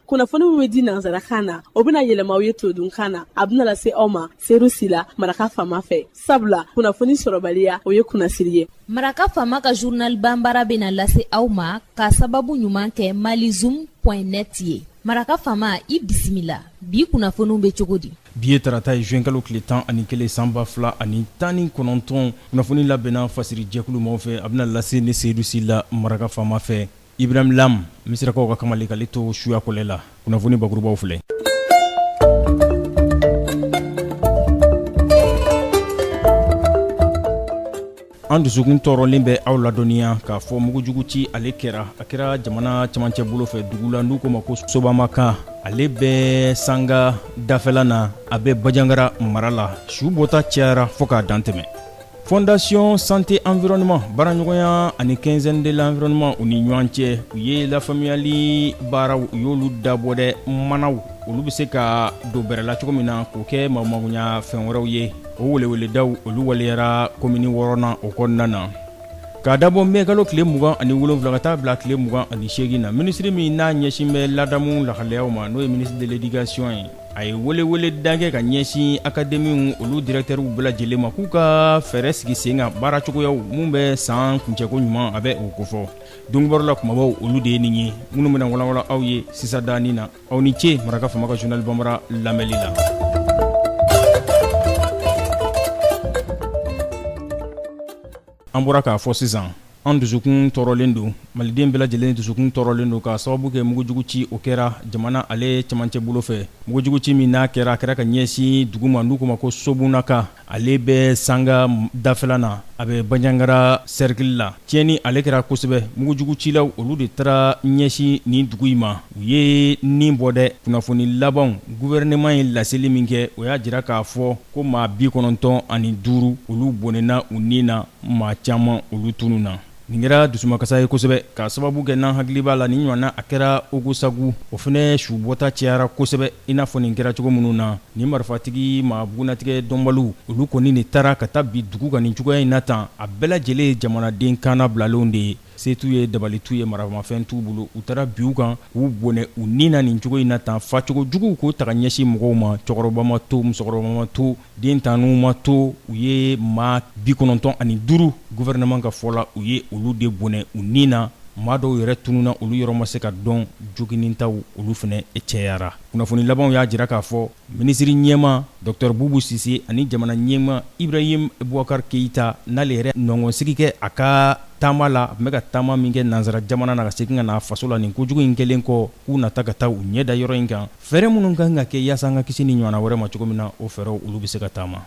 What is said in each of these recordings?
kunnafoni min bɛ di nansarakan na o bɛna yɛlɛma aw ye todunkan na a bɛna lase aw ma seyidu sila maraka faama fɛ sabula kunnafoni sɔrɔbaliya o ye kunnasiri ye maraka faama ka journal banbara bɛna lase aw ma ka sababu ɲuman kɛ malizoom net ye maraka faama i bisimila bi kunnafoniw bɛ cogo di bi ye tarata ye zuwɛnkalo tile tan ani kelen san ba fila ani tan ni kɔnɔntɔn kunnafoni labɛnna fasirijɛkulu maaw fɛ a bɛna lase ne seyidu sila maraka faama fɛ Ibrahim Lam misirakaw ka kamalen k'ale to suya kɔlɛ la, kunnafoni bakurubaw filɛ An dusukun tɔɔrɔlen bɛ aw ladɔnniya k'a fɔ mugujugu ci ale kɛra, a kɛra jamana cɛmancɛ bolo fɛ dugu la n'u k'o ma ko Sobaamakan, ale bɛ sanga dafɛla na, a bɛ Bajangara mara la, su bɔta cayara fo k'a dantɛmɛ. Fondation Santé Environnement baaraɲɔgɔnya ani quinzaine de l'environnement u ni ɲɔgɔn cɛ u ye lafamuyali baaraw u y'olu dabɔ dɛ manaw olu bɛ se ka don bɛrɛ la cogo min na k'o kɛ magoɲɛ fɛn wɛrɛw ye o weleweledaw olu waleyara komini wɔɔrɔnan o kɔnɔna na k'a dabɔ mɛkalo tile mugan ani wolonwula ka taa bila tile mugan ani seegin na minisiri min n'a ɲɛsin bɛ ladamu lahalayaw ma n'o ye ministre de l'éducation ye a ye weleweleda kɛ ka ɲɛsin akademiw olu dirɛktɛrw bɛɛ lajɛlen ma k'u ka fɛɛrɛ sigi sen kan baara cogoyaw minnu bɛ san kuncɛko ɲuman a bɛ o kofɔ don kibaru la kumabaw olu de ye nin ye minnu bɛna walawala aw ye sisan dɔɔnin na aw ni ce maraka faama ka journal banbara lamɛnli la An bɔra k'a fɔ sisan an dusukun tɔɔrɔlen don maliden bɛɛ lajɛlen dusukun tɔɔrɔlen don k'a sababu kɛ mugujugu ci o kɛra jamana ale cɛmancɛ bolo fɛ mugujugu ci min n'a kɛra a kɛra ka ɲɛsin dugu ma n'u k'o ma ko sobunakan ale bɛ sanga dafɛla na a bɛ bajangara cercle la tiɲɛni ale kɛra kosɛbɛ mugujugu cilaw olu de taara ɲɛsin nin dugu in ma U ye ni bɔ dɛ kunnafoni labanw gouvernement ye laseli min kɛ o y'a jira k'a fɔ ko maa bi kɔnɔntɔn ani duuru olu bɔnɛna u ni na maa caman olu tununna nin kɛra dusumakasa ye kosɛbɛ k'a sababu kɛ n'an hakili b'a la nin ɲɔgɔnna a kɛra ogosagu o fana su bɔta cɛyara kosɛbɛ i n'a fɔ nin kɛra cogo minnu na nin marifatigi maa bugunnatigɛ dɔnbaliw olu kɔni de taara ka taa bin dugu kan nin cogoya in na tan a bɛɛ lajɛlen ye jamanaden kannabilalenw de ye Se t'u ye dabali t'u ye maramafɛn t'u bolo u taara bin u kan k'u bɔnɛ u ni na nin cogo in na tan facogo juguw k'o taga ɲɛsin mɔgɔw ma cɛkɔrɔba ma to musokɔrɔba ma to den tan n'u ma to u ye maa bi kɔnɔntɔn ani duuru gouvernement ka fɔ la u ye olu de bɔnɛ u ni na maa dɔw yɛrɛ tununna olu yɔrɔ ma se ka dɔn joginintaw olu fana cɛyara kunnafoni labanw y'a jira k'a fɔ Minisiri ɲɛma Docteur Boubou Sise ani jamana ɲɛma Ibrahim Boubacar Keita n'ale yɛrɛ nɔngɔnsigi kɛ a ka taama la, a tun bɛ ka taama min kɛ nansara jamana na ka segin ka na a faso la nin ko jugu in kɛlen kɔ, k'u na taa ka taa u ɲɛ da yɔrɔ in kan, fɛɛrɛ minnu ka kan ka kɛ yaasa an ka kisi nin ɲɔgɔnna wɛrɛ ma cogo min na, o fɛɛrɛw olu bɛ se ka taama.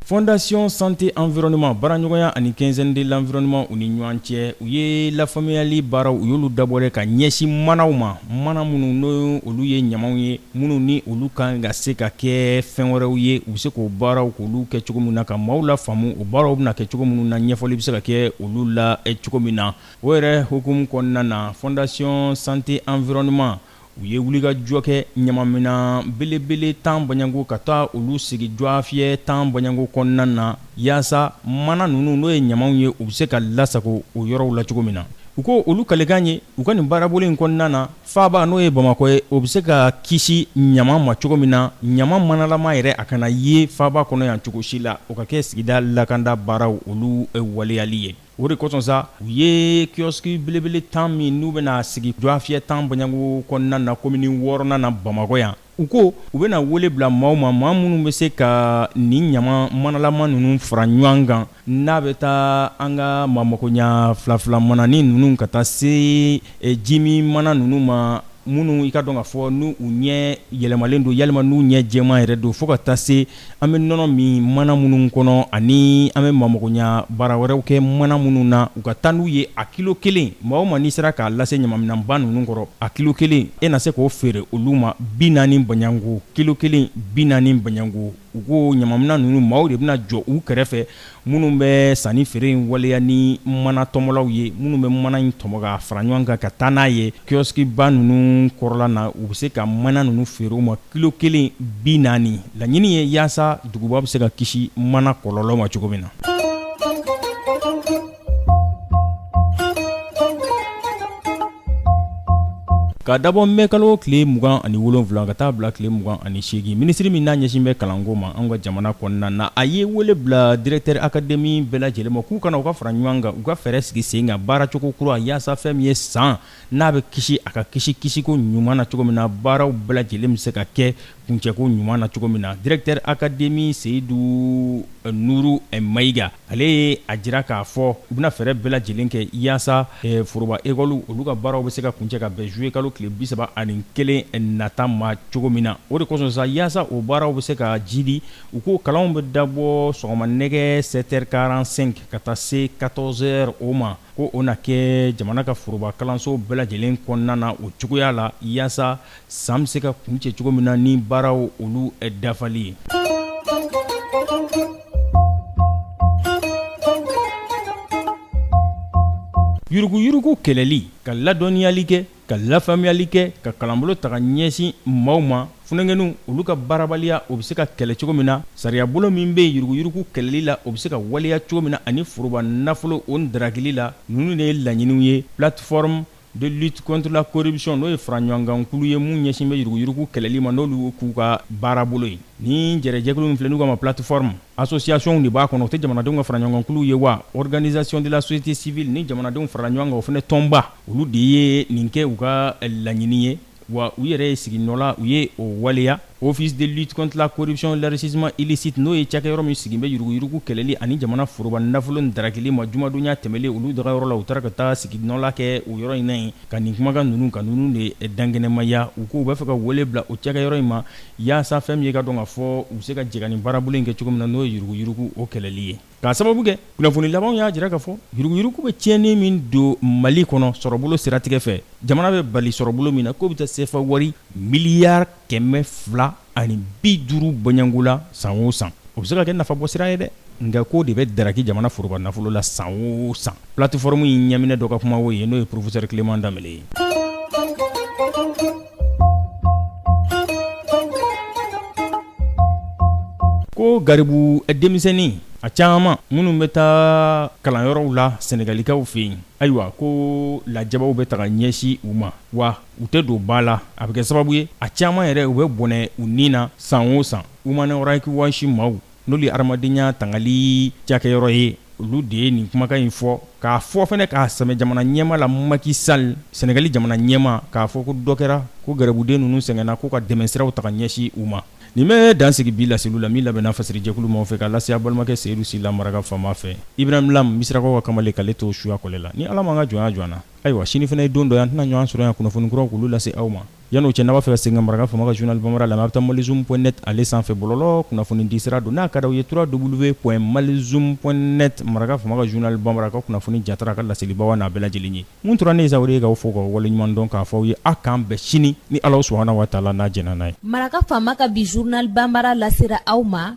Fondation santé environnement baaraɲɔgɔnya ani quinzaine de l'environnement u ni ɲɔgɔn cɛ u ye lafaamuyali baaraw u y'olu dabɔ ka ɲɛsin manaw ma mana minnu n'o olu ye ɲamanw ye minnu ni olu kan ka se ka kɛ fɛn wɛrɛw ye u bɛ se k'o baaraw k'olu kɛ cogo min na ka maaw lafaamu o baaraw bɛna kɛ cogo minnu na ɲɛfɔli bɛ se ka kɛ olu la cogo min na o yɛrɛ hukumu kɔnɔna na Fondation santé environnement u ye wulikajɔ kɛ ɲamaminan belebele tan baɲanko ka taa olu sigi dwafiyɛ tan baɲanko kɔnɔna na yaasa mana ninnu n'o ye ɲamanw ye u bɛ se ka lasago o yɔrɔw la cogo min na u ko olu kalikan ye u ka nin baarabolo in kɔnɔna na faaba n'o ye bamakɔ ye o bɛ se ka kisi ɲaman ma cogo min na ɲaman manalama yɛrɛ a kana ye faaba kɔnɔ yan cogo si la o ka kɛ sigida lakanda baaraw olu waleyali ye O de kosɔn sa u ye kiosque belebele 10 min n'u bɛna sigi dwafiyɛ 10 baɲanko kɔnɔna na komini wɔɔrɔnan na Bamakɔ yan, u ko u bɛna wele bila maaw ma, maa minnu bɛ se ka nin ɲaman manalama ninnu fara ɲɔan kan n'a bɛ ta an ka maamakoɲa filafila mananin ninnu ka taa se jimin mana ninnu ma, minnu i k'a dɔn k'a fɔ n'u ɲɛ yɛlɛmalen don yalima n'u ɲɛ jɛman yɛrɛ don fo ka taa se An bɛ nɔnɔ min mana minnu kɔnɔ ani an bɛ maamakoɲa baara wɛrɛw kɛ mana minnu na u ka taa n'u ye a kilo kelen maa o maa n'i sera k'a lase ɲamaminanba ninnu kɔrɔ a kilo kelen e na se k'o feere olu ma bi naani baɲanko kilo kelen bi naani baɲanko u ko ɲamaminan ninnu maaw de bɛna jɔ u kɛrɛfɛ minnu bɛ sanni feere in waleya ni mana tɔmɔlaw ye minnu bɛ mana in tɔmɔ ka fara ɲɔgɔn kan ka taa n'a ye kioskiba ninnu kɔrɔla na u bɛ se ka mana ninnu feere u ma kilo kelen bi naani laɲini ye yaasa duguba bɛ se ka kisi mana kɔlɔlɔ ma cogo min na ka dabɔ mɛkalo tile mugan ani wolonwula ka taa bila tile mugan ani segin minisiri min n'a ɲɛsin bɛ kalanko ma an ka jamana kɔnɔna na a ye wele bila directeur académie bɛɛ lajɛlen ma k'u ka na u ka fara ɲɔgɔn kan u ka fɛɛrɛ sigi sen kan baaracogo kura yaasa fɛn min ye san n'a bɛ kisi a ka kisi kisiko ɲuman na cogo min na baaraw bɛɛ lajɛlen bɛ se ka kɛ kuncɛko ɲuman na cogo min na directeur académie Seyidu Nuru Mayiga ale ye a jira k'a fɔ u bɛna fɛɛrɛ bɛɛ lajɛlen kɛ yaasa foroba école olu ka baaraw bɛ se ka kuncɛ ka bɛn juillet kalo tile 31 nata ma cogo min na o de kosɔn sa yaasa o baaraw bɛ se ka jiidi u ko kalanw bɛ dabɔ sɔgɔma nɛgɛ 7 heures 45 ka taa se 14 heures o ma ko o na kɛ jamana ka foroba kalanso bɛɛ lajɛlen kɔnɔna na o cogoya la yaasa San bɛ se ka kuncɛ cogo min na ni baaraw olu dafali ye yuruguyurugu kɛlɛli ka ladɔnniyali kɛ ka lafaamuyali kɛ ka kalanbolo taga ɲɛsin maaw ma funankɛninw olu ka baarabaliya o bɛ se ka kɛlɛ cogo min na sariyabolo min bɛ yuruguyurugu kɛlɛli la o bɛ se ka waleya cogo min na ani foroba nafolo o darakili la ninnu de ye laɲiniw ye plateforme de lutte contre la corruption n'o ye faraɲɔgɔnkankulu ye mun ɲɛsin bɛ yuruguyurugu kɛlɛli ma n'olu k'u ka baarabolo ye ni jɛrɛjɛkulu min filɛ n'u k'a ma plateforme associationw de b'a kɔnɔ o tɛ jamanadenw ka faraɲɔgɔnkankulu ye wa organisation de la société civile ni jamanadenw farala ɲɔgɔn kan o fana tɔnba olu de ye nin kɛ u ka laɲini ye wa u yɛrɛ ye sigi nɔ la u ye o waleya office de lutte contre la corruption l'enrichissement illicite n'o ye cakɛyɔrɔ min sigilen bɛ yuruguyurugu kɛlɛli ani jamana foroba nafolo darakili ma jumadonya tɛmɛlen olu dagayɔrɔ la u taara ka taa sigi nɔ la kɛ o yɔrɔ in na yen ka nin kumakan ninnu ka ninnu de dankɛnɛmaya u ko u bɛ fɛ ka wele bila o cakɛyɔrɔ in ma yaasa fɛn min ye k'a dɔn k'a fɔ u bɛ se ka jɛ ka nin baarabolo in kɛ cogo min na n'o ye yuruguyurugu o kɛlɛli ye K'a sababu kɛ kunnafoni labanw y'a jira k'a fɔ yuruguyurugu bɛ tiɲɛni min don Mali kɔnɔ sɔrɔbolo siratigɛ fɛ, jamana bɛ bali sɔrɔbolo min na k'o bɛ taa sefa wari miliyari kɛmɛ fila ani bi duuru bɔɲɔgɔnko la san o san, o bɛ se ka kɛ nafabɔsira ye dɛ, nka k'o de bɛ daraki jamana foroba nafolo la san o san. Plateforme in ɲɛminɛ dɔ ka kuma o ye n'o ye professeur Clément Dembélé ye. Ko garibu denmisɛnnin a caman minnu bɛ taa kalanyɔrɔw la Sɛnɛgalikaw fɛ yen ayiwa ko lajabaw bɛ taga ɲɛsin u ma wa u tɛ don ba la a bɛ kɛ sababu ye a caman yɛrɛ u bɛ bɔnɛ u ni na san o san Human Rights Watch maaw n'olu ye hadamadenya tangali cakɛyɔrɔ ye olu de ye nin kumakan in fɔ k'a fɔ fana k'a sɛmɛ jamana ɲɛmaa la Macky Sall Sɛnɛgali jamana ɲɛmaa k'a fɔ ko dɔ kɛra ko gɛrɛbuden ninnu sɛgɛnna k'u ka dɛmɛsiraw taga ɲɛsin u ma nin bɛ dan sigi bi laseliw la min labɛnna fasirijɛkulu maaw fɛ ka lase a balimakɛ Seyidu Sila Maraka faama fɛ Ibrahim Lam Misirakaw ka kamalen k'ale to suya kɔlɛ la ni Ala m'an ka jɔnya jɔ an na ayiwa sini fana ye don dɔ ye an tɛna ɲɔgɔn sɔrɔ yan kunnafoni kuraw k'olu lase aw ma Yan'o cɛ n'a b'a fɛ ka segin ka Maraka faama ka journal Bambara lamɛn, a' bɛ taa Malizoom point net ale sanfɛ bɔlɔlɔ kunnafonidi sira don, n'a ka d'aw ye www.malizoom.net Maraka faama ka journal Bambara, a ka kunnafoni jaatara, a ka laselibaaw, a n'a bɛɛ lajɛlen ye. Mun tora ne ye sa, o de ye k'aw fo k'aw waleɲuman dɔn, k'a fɔ aw ye a' k'an bɛn sini, ni Alahu subahana wataala n'a jɛnna n'a ye. Maraka faama ka bi journal Bambara lasera aw ma.